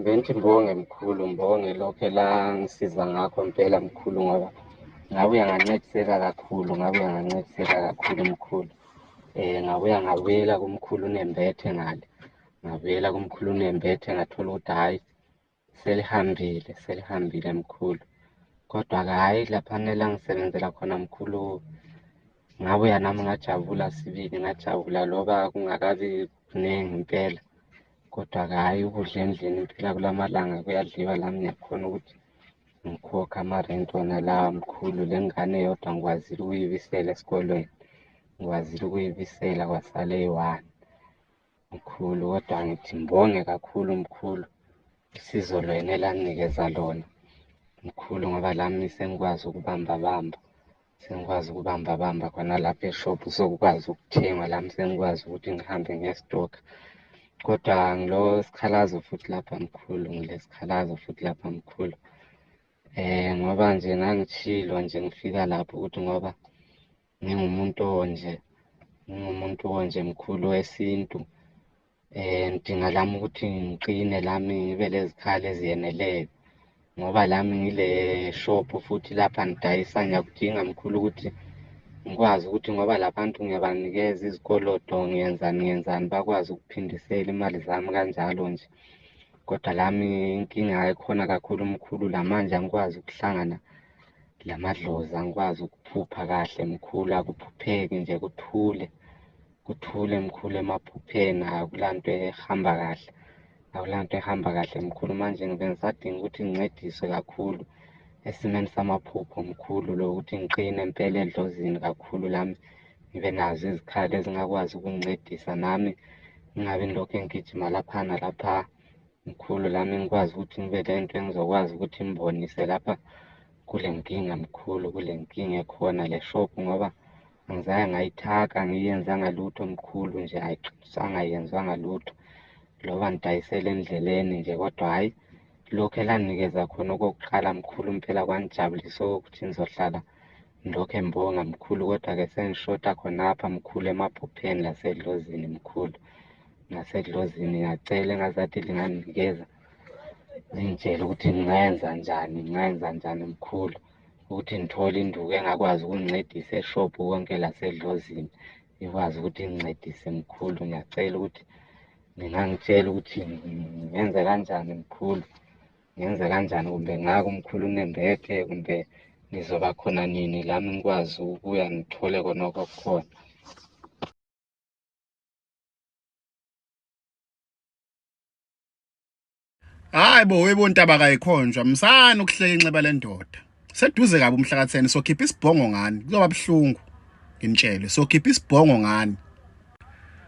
Bengithi mbonge mkhulu, mbonge lokho elangisiza ngakho mpela mkhulu ngoba ngabe uyangancediseka kakhulu, ngabe uyangancediseka kakhulu mkhulu. Eh ngabe uyangabuyela kumkhulu unembethe ngale. Ngabuyela kumkhulu unembethe ngathola ukuthi hhayi selihambile, selihambile mkhulu. Kodwa-ke hhayi laphana elangisebenzela khona mkhulu ngabuya nami ngajabula sibili ngajabula loba kungakabi kuningi impela Kodwa-ke hhayi ukudla endlini phela kula malanga kuyadliwa la ngiyakhona ukuthi ngikhokhe amarenti wona lawa mkhulu. Le ngane yodwa ngikwazile ukuyibisela esikolweni, ngikwazile ukuyibisela kwasale eyi-one mkhulu. Kodwa ngithi ngibonge kakhulu mkhulu usizo lwena elaninikeza lona mkhulu ngoba lami sengikwazi ukubambabamba. sengikwazi ukubamba bamba khona lapha eshop sokukwazi ukuthenga lami sengikwazi ukuthi ngihambe ngestock kodwa ngilo sikhalazo futhi lapha mkhulu ngilesikhalazo futhi lapha mkhulu eh ngoba nje ngangishilo nje ngifika lapho ukuthi ngoba ngingumuntu onje ngingumuntu onje mkhulu wesintu um ngidinga lami ukuthi ngiqine lami ngibe lezikhali eziyeneleyo ngoba lami ngile shop futhi lapha ngidayisa ngiyakudinga mkhulu ukuthi ngikwazi ukuthi ngoba labantu ngiyabanikeza izikoloto ngiyenzani ngiyenzani bakwazi ukuphindisela imali zami kanjalo nje kodwa lami inkinga ekhona kakhulu mkhulu la manje angikwazi ukuhlangana la madlozi angikwazi ukuphupha kahle mkhulu akuphupheki nje kuthule Kuthule mkhulu emaphupheni akulanto ehamba kahle. Akulanto ehamba kahle mkhulu manje ngibe ngisadinga ukuthi ngincediswe kakhulu esimeni samaphupho mkhulu lo ukuthi ngiqine impela edlozini kakhulu lami ngibe nazo izikhali ezingakwazi ukungincedisa nami ngingabi ngilokhu engigijima laphana lapha mkhulu lami ngikwazi ukuthi ngibe le nto engizokwazi ukuthi ngibonise lapha kule nkinga mkhulu kule nkinga ekhona le shop ngoba Angizange ngayithaka, angiyenzanga lutho mkhulu nje, ayixabisanga, ayenzanga lutho. Loba ngidayisele endleleni nje kodwa hhayi lokhu elanikeza khona okokuqala mkhulu impela kwangijabulisa okokuthi ngizohlala ngilokhu embonga mkhulu kodwa-ke sengishoda khonapha mkhulu emaphupheni lasedlozini mkhulu nasedlozini ngacela engazathi linganginikeza lingitshele ukuthi ngingayenza njani ngingayenza njani mkhulu ukuthi ngithole induku engakwazi ukungincedisa eshop konke lasedlozini ikwazi ukuthi ingincedise mkhulu ngiyacela ukuthi ningangitshela ukuthi ngenze kanjani mkhulu ngenze kanjani kumbe ngako mkhulu unembethe kumbe ngizoba khona nini lami ngikwazi ukuya ngithole kona okukhona Hayi bo webo ntaba kayikhonjwa msana ukuhleka inxeba lendoda. Seduze kabi umhlakathene sokhipha isibhongo ngani kuzoba buhlungu. Ngimtshele sokhipha isibhongo ngani.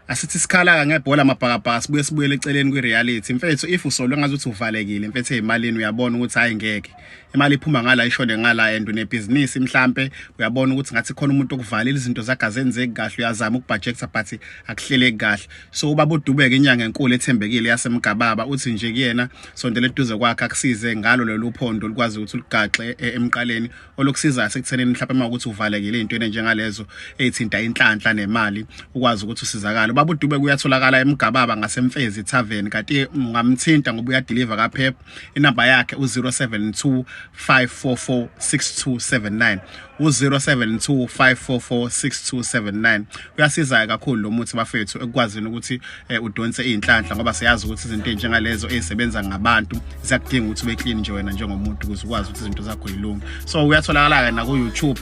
Asithi sikhalaka ngebhola mabhakabhaka sibuye sibuyele eceleni kwi reality. Mfethu if usolwe ngazuthi uvalekile mfethu ezimalini uyabona ukuthi hayi ngeke. imali iphuma ngala ishone ngala and unebhizinisi mhlampe uyabona ukuthi ngathi khona umuntu okuvalela izinto zakhe azenzeki kahle uyazama ukubhajekta but akuhleleki kahle so ubaba udubeke inyanga enkulu ethembekile yasemgababa uthi nje kuyena sondele eduze kwakhe akusize ngalo lolu phondo likwazi ukuthi uligaxe e, emqaleni olokusizayo sekuthenini mhlawumbe uma ukuthi uvalekile into enjengalezo ezithinta inhlanhla nemali ukwazi ukuthi usizakale ubaba udubeke uyatholakala emgababa ngasemfezi tavern kanti ungamthinta ngoba uyadeliver kaphepha inamba yakhe u-072 544 6279 u-072 544 6279 uyasiza kakhulu lo muthi bafethu ekukwazini ukuthi eh, udonse iy'nhlanhla ngoba siyazi ukuthi izinto ey'njengalezo ey'sebenza ngabantu ziyakudinga ukuthi ube clean nje wena njengomuntu ukuze ukwazi ukuthi izinto zakho yilunga so uyatholakala-ke naku-youtube